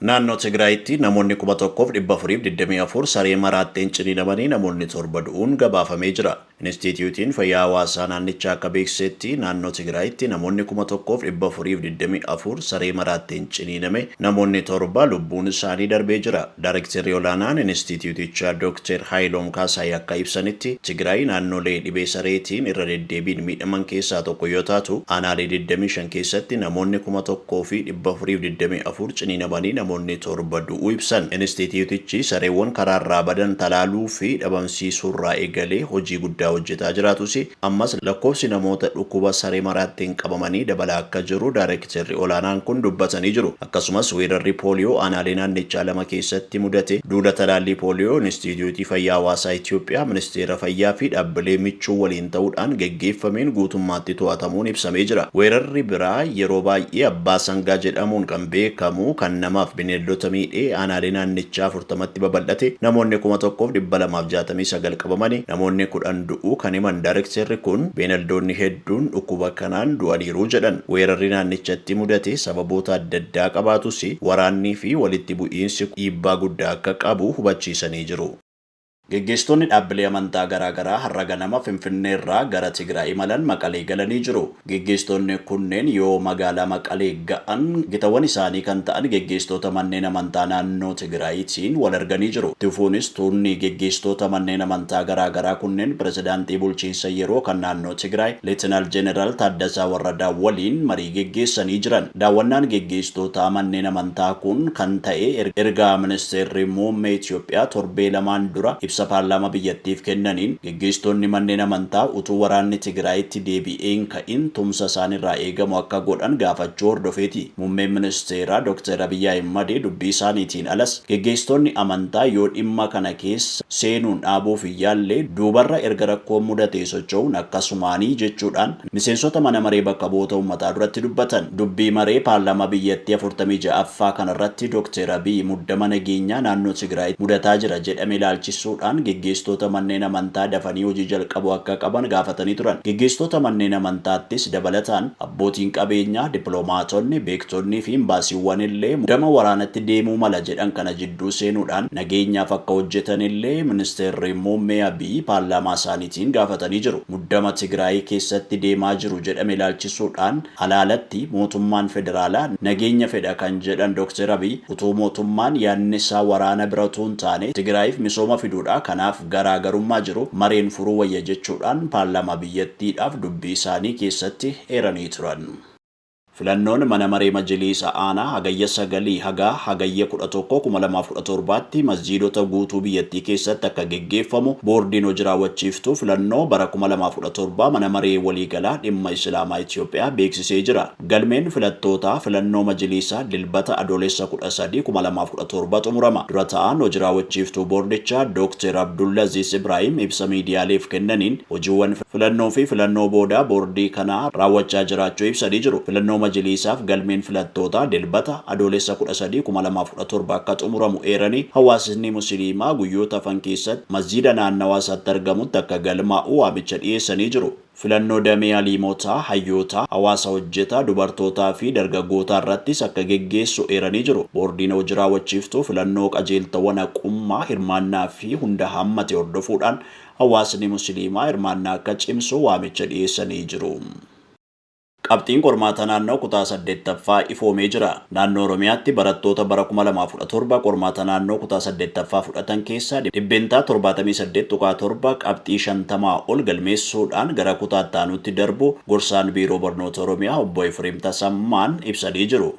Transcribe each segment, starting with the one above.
Naannoo Tigraayitti namoonni 1,424 saree maraatteen ciniinamanii namoonni 7 du'uun gabaafamee jira. Inistiitiyuutiin Fayyaa Hawaasaa naannichaa akka beeksisetti, naannoo Tigraayitti namoonni 1,424 saree maraatteen ciniiname, namoonni 7 lubbuun isaanii darbee jira. Daarekterri olaanaan inistiitiyuutichaa Dokteer Haayiloom Kaasaay akka ibsanitti, Tigraay naannolee dhibee sareetiin irra deddeebiin miidhaman keessaa tokko yoo taatu, aanaalee 25 keessatti namoonni 1,000 fi 424 ciniinamanii namoonni 7 du'uu ibsan. Inistiitiyuutichi sareewwan karaarraa badan talaaluu fi dhabamsiisuurraa eegalee hojii guddaa hojjetaa jiraatus, ammas lakkoofsi namoota dhukkuba saree maraattiin qabamanii dabalaa akka jiru daarekterri olaanaan kun dubbatanii jiru. Akkasumas weerarri pooliyoo aanaalee naannichaa lama keessatti mudate duula talaallii pooliyoo Inistiitiyuutii Fayyaa Hawaasaa Itiyoophiyaa, Ministeera Fayyaa fi dhaabbilee michuu waliin ta'uudhaan geggeeffameen guutummaatti to'atamuun ibsamee jira. Weerarri biraa yeroo baay'ee Abbaa Sangaa jedhamuun kan beekamu kan namaaf bineeldota miidhee aanaalee naannichaa 40tti babal'ate namoonni 1269 qabamani namoonni 10 du'uu kan himan daarekteerri kun beenaldoonni hedduun dhukkuba kanaan du'aniiru jedhan. Weerarri naannichatti mudate sababoota adda addaa qabaatus waraanniifi walitti bu'iinsi dhiibbaa guddaa akka qabu hubachiisanii jiru. Geggeessitoonni dhaabbilee amantaa garaa garaa har'a ganama Finfinneerraa gara Tigraay imalan Maqalee galanii jiru. Geggeessitoonni kunneen yoo magaalaa Maqalee ga'an gitawwan isaanii kan ta'an geggeessitoota manneen amantaa naannoo Tigraayitiin wal arganii jiru. Itti fufuunis tuunni geggeessitoota manneen amantaa garaa garaa kunneen pirezidaantii bulchiinsa yeroo kan naannoo Tigraay Leetinaal Jeneraal Taaddasaa Warradaa waliin marii geggeessanii jiran. Daawwannaan geggeessitoota manneen amantaa kun kan ta'e erga Ministeerri Muummee Itoophiyaa torbee lamaan dura ibsa paarlaamaa biyyattiif kennaniin geggeessitoonni manneen amantaa utuu waraanni Tigraayitti deebi'ee hin ka'in tumsa isaanirraa eegamu akka godhan gaafachuu hordofeeti. Muummeen Ministeeraa Doktar Abiy Ahimad dubbii isaaniitiin alas geggeessitoonni amantaa yoo dhimma kana keessa seenuun dhaabuuf hin yaalle duubarra erga rakkoon mudatee socho'uun akkasumaani jechuudhaan miseensota mana maree bakka bu'oota ummataa duratti dubbatan. Dubbii maree paarlaamaa biyyattii 46ffaa kanarratti Dokteer Abiy muddama nageenyaa naannoo Tigraayitti mudataa jira jedhame ilaalchisuudhaan geggeessitoota manneen amantaa dafanii hojii jalqabuu akka qaban gaafatanii turan. Geggeessitoota manneen amantaattis dabalataan abbootiin qabeenyaa, dippilomaatonni, beektonniifi imbaasiiwwanillee muddama waraanatti deemuu mala jedhan kana jidduu seenuudhaan nageenyaaf akka hojjetanillee Ministeerri Muummee Abiy paarlaamaasaaniitti Ittiin gaafatanii jiru. Muddama Tigraayii keessatti deemaa jiru jedhame ilaalchisuu dhaan alaa alatti mootummaan federaalaa nageenya fedha kan jedhan Dr. Abiy, utuu mootummaan yaadni isaa waraana bira utuu hin taane Tigraayiif misooma fiduu dha, kanaaf garaa garummaa jiru mareen furuu wayya jechuu dhaan paarlaamaa biyyattii dhaaf dubbii isaanii keessatti eeranii turan. Filannoon Mana Maree Majiliisa Aanaa Hagayya 9 haga Hagayya 11, 2017tti masjiidota guutuu biyyattii keessatti akka geggeeffamu Boordiin Hoji Raawwachiiftuu Filannoo bara 2017 Mana Maree Waliigalaa Dhimma Islaamaa Itiyoophiyaa beeksisee jira. Galmeen filattootaa filannoo majiliisaa Dilbata Adoolessa 13, 2017 xumurama. Dura Taa'aan Hoji Raawwachiiftuu Boordichaa Dookter Abdullaziiz Ibraahim ibsa miidiyaaleef kennaniin hojiiwwan Filannoo fi filannoo boodaa boordii kanaa raawwachaa jiraachuu ibsanii jiru. Filannoo majiliisaaf galmeen filattootaa Dilbata, Adoolessa kudha sadii, kuma lamaa fi kudha torba akka xumuramu eeranii, hawaasisni musiliimaa guyyoota hafan keessatti masjiida naannawaa isaatti argamutti akka galmaa'u waamicha dhiyeessanii jiru. Filannoo damee aliimotaa, hayyootaa, hawaasa hojjetaa, dubartootaa fi dargaggootaa irrattis akka geggeessu eeranii jiru. Boordiin hoji raawwachiiftuu filannoo qajeeltowwan haqummaa, hirmaannaa fi hunda hammate hordofuudhaan Hawaasni Musiliimaa hirmaannaa akka cimsu waamicha dhiyeessanii jiru. Qabxiin qormaata naannoo kutaa 8ffaa ifoomee jira. Naannoo Oromiyaatti barattoota bara 2017 qormaata naannoo kutaa 8ffaa fudhatan keessaa %78.7 qabxii 50 ol galmeessuudhaan gara kutaa itti aanuutti darbuu Gorsaan Biiroo Barnoota Oromiyaa Obbo Efreem Tasammaan ibsanii jiru.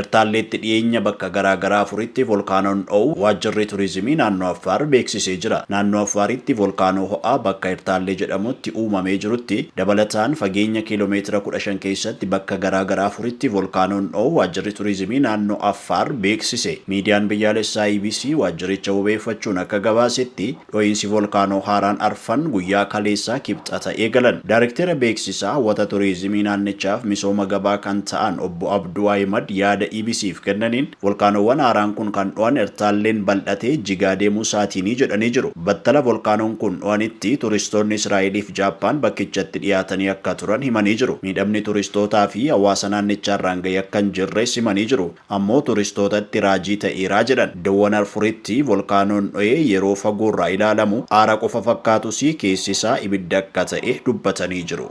Ertaalleetti dhiyeenya bakka garaa garaa afuritti volkaanoon dho'uu Waajjirri Turizimii Naannoo Affaar beeksisee jira. Naannoo Affaaritti volkaanoo ho'aa bakka Ertaallee jedhamutti uumamee jirutti dabalataan fageenya kiiloo meetira kudha shan keessatti bakka garaa garaa afuritti volkaanoon dho'uu Waajjirri Turizimii Naannoo Affaar beeksise. Miidiyaan biyyaalessaa EBC waajjiricha wabeeffachuun akka gabaasetti, Dhohiinsi Volkaanoo haaraan arfan guyyaa kaleessaa Kibxata eegalan. Daarekteera beeksisa hawwata turiizimii naannichaaf misooma gabaa kan ta'an obbo Abduu Ahimad yaada EBC'f kennaniin, volkaanoowwan haaraan kun kan dhohan Ertaalleen bal'atee jigaa deemuu isaatiini jedhanii jiru. Battala volkaanoon kun dhohanitti turistoonni Israa'eliif Jaappaan bakkichatti dhiyaatanii akka turan himanii jiru. Miidhamni turistootaa fi hawaasa naannichaarraan gahe akka hin jirres himanii jiru. ammoo turistootatti raajii ta'eera jedhan. Dawwan Arfuritti volkaanoon dho'ee yeroo fagoorraa ilaalamu aara qofa fakkaatus keessi isaa ibidda akka ta'e dubbatanii jiru.